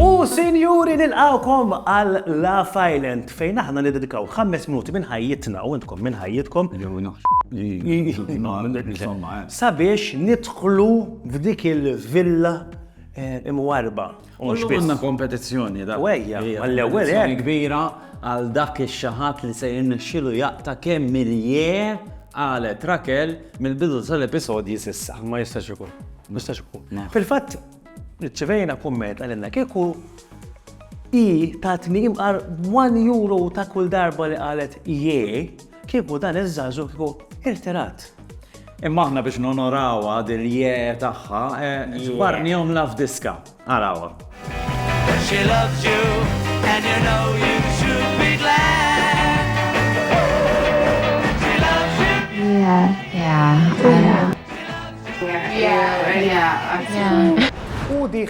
U sinjuri nilqgħukom għal Love Island fejn aħna niddedikaw ħames minuti minn ħajjitna u intkom minn ħajjitkom sabiex nidħlu f'dik il-villa imwarrba. U mhux biss. Għandna kompetizzjoni da. U ejja, għall-ewwel hekk. Kompetizzjoni kbira għal dak ix-xi ħadd li se jirnexxielu jaqta' kemm miljee qalet Raquel mill-bidu tal-episodji s'issa. Ma jistax ikun. Ma jistax ikun. Fil-fatt, irċivejna kumment qalilna kieku hi tatni imqar one euro ta' kull darba li qalet jee, Kieku dan iż-żagħżugħ kieku irtirat. Imma aħna biex nonorawha dil je tagħha, żbarnihomla f'diska. Arawha. She loves you and you know you should be glad. She loves you. Yeah, yeah. Yeah, yeah, yeah. U di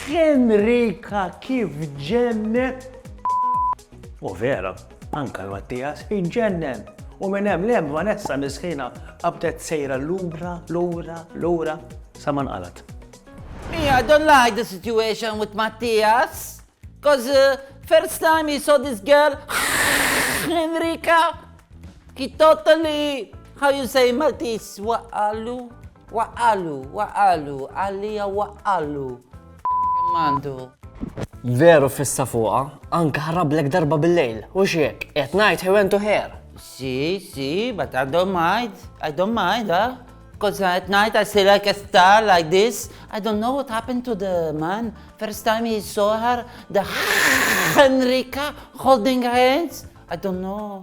Henrika kif ġennet. U vera. Anke l-Mattias iġġennen u minn hemm 'l hemm Vanessa miskina qabdet sejra lura, lura, lura sa ma nqalgħet. Me, I don't like the situation with Mattias, cos first time he saw this girl Enrica, he totally, how you say in Maltese, waqqagħlu. Waqqalu, waqqalu, għalija waqqalu. Kemm għandu. Veru fissa fuqa, anka ħarrablek darba bil-lejl, u xiek, qed ngħid he went to her. Si, si, but I don't mind, I don't mind, ah. Because at night I see like a star like this. I don't know what happened to the man. First time he saw her, the Henrika holding hands. I don't know.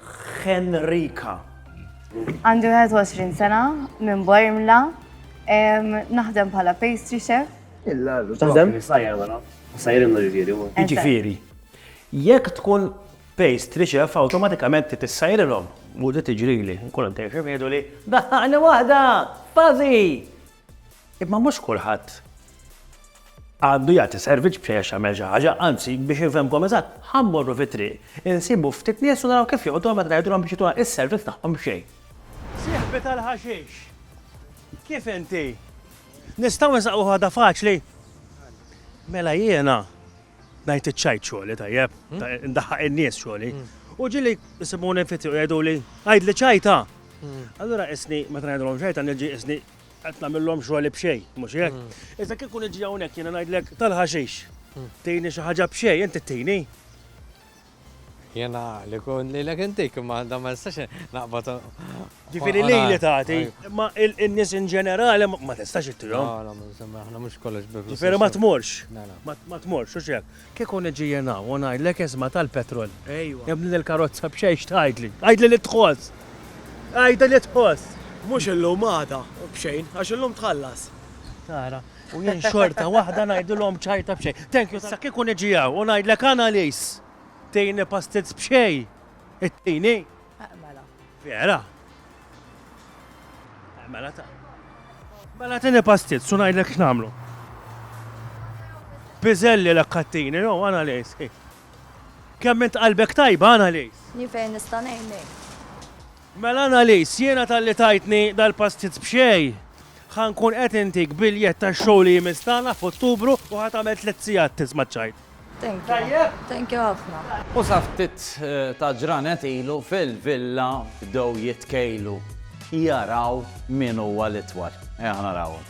Henrika. Għandi 21 sena minn Bormla. Naħdem bħala pastry chef. Il-lalu. Taħdem? Sajja wara. Sajja l-imma ġifieri. Ġifieri. Jekk tkun pastry chef awtomatikament ti tissajrilhom. Mhux tiġrili, nkun intejxef jgħidu li daħħaqni waħda! Fazi! Imma mhux kulħadd għandu jagħti servizz biex għax jagħmel xi ħaġa, anzi biex infhemkom eżatt, ħa mmorru fit-triq, insibu ftit nies u naraw kif joqogħdu meta ngħidulhom biex jituna is-servizz tagħhom b'xejn. Sieħbi tal-ħaxix, kif inti? Nistgħu nsaqqu ħaġa faċli? Mela jiena Ngħid iċ-ċajt xogħli, tajjeb, ndaħħaq in-nies xogħli. U ġieli jsibuni fiti u jgħiduli, għidli ċajta! Allura qisni meta ngħidulhom ċajta niġi qisni qed nagħmilhom xogħli b'xejn, mhux hekk? Iżda kieku niġi hawnhekk jiena ngħidlek tal-ħaxix, tini xi ħaġa b'xejn, inti tini. Jiena li kun li l-ek intik, imma da ma nistax naqbad. Ġifiri li li tagħti, ma il-nis in ġenerali ma tistax ittihom. Għala, ma aħna mhux kollox biflu. Ġifiri ma tmorx. Ma tmorx, u xek. Kieku niġi jena, u ngħidlek isma tal-petrol. Ejwa. Ibni l-karozza b'xejx tgħidli. Għajdli li tħoss. Għajdli li tħoss. Mhux illum għada, b'xejn, għax illum tħallas. Tara. U jien xorta waħda ngħidilhom ċajta b'xejn. Thank you. Sa kieku niġi hawn u ngħidlek Annalies, tini pastizz b'xejn, ittini? Eq mela. Vera? Eq mela ta. Mela tini pastizz u ngħidlek x'nagħmlu. Piżelli l kattini, no, Annalies. Kemm int qalbek tajba, Annalies? Ni fejn nista' ngħinek. Mela Annalise, jiena talli tajtni dal-pastizz b'xejn, ħa nkun qed intik biljett tax-show li jmiss tagħna f'Ottubru u ħa tagħmel tliet sigħat tisma' ċ-ċajt. Thank you. Thank you ħafna. U sa ftit ta' ġranet ilu fil-villa bdew jitkejlu jaraw min huwa l-itwal. Ejja ħa narawhom.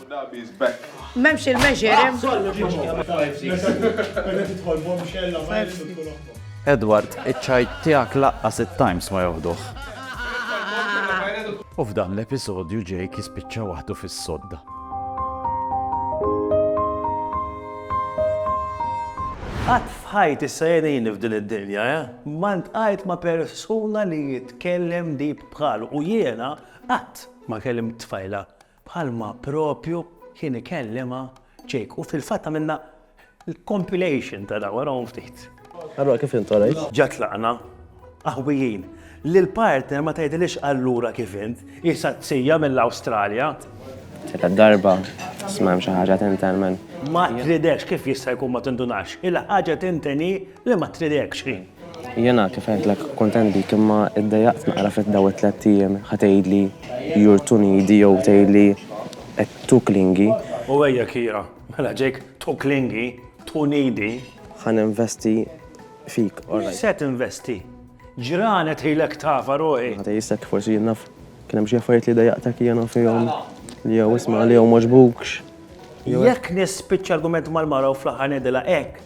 Dabies back. Memx il-measure. Edward, iċ-ċajt tiegħek laqqas it-Times ma joħduh. U f'dan l-episodju Jake jispiċċa waħdu fis-sodda. Qatt f'ħajt issa jenin f'din id-dinja, eh? ma ntqajt ma' persuna li jitkellem dib bħalu u jiena qatt ma kellim tfajla Bħalma propju kien ikellimha Jake. U fil-fatt għamilna l-compilation ta' dawn, arahom ftit. Allura kif int għalajt? Ġa tlaqna qawwijin. Lill-partner ma tgħidilhiex allura kif int, hi saqsija mill-Awstralja. Tielet darba, isma' hemm xi ħaġa tinten minn. Ma tridekx, kif jista' jkun ma tindunax? Il-ħaġa tinten hi. Le ma tridekx hi. Jiena kif għedtlek kuntent bik imma iddejjaqt naqra fit daw it-tlett ijiem ħa tgħidli you're too needy jew tgħidli too clingy. U ejja Kiera, mela ġejk too clingy, too needy. Ħa ninvesti fik alright. Mhux se tinvesti. Ġranet hi lek tafa ruħi. Ħa tgħisek forsi jien naf kien hemm xi affarijiet li dejjaqtek jiena fihom li jew isma' li jew m'għoġbukx. Jekk nispiċċa argument mal-mara u fl-aħħar ngħidilha hekk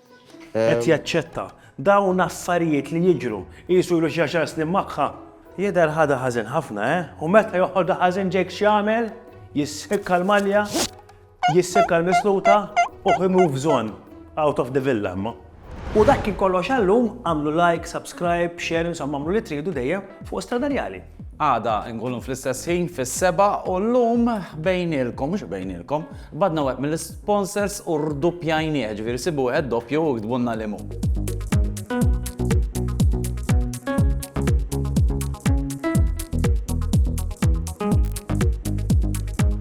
Qed jaċċetta. Dawn affarijiet li jiġru. Qisu ilu xi għaxar snin magħha. Jidher ħadha ħażin ħafna, eh? U meta joħodha ħażin Jake x'jagħmel? Jissikka l-malja, jissikka l-misluta u he moves on out of the villa imma. U dak kien kollox għal-lum, għamlu like, subscribe, share insomma għamlu li tridu dejjem fuq Stradarjali. Għada nkunu fl-istess ħin fis-seba' u llum bejnielkom, mhux bejnielkom, badna wieħed mill-isponsors u rduppjajnieh, ġifieri sibu wieħed doppju u ktbulna liemhu.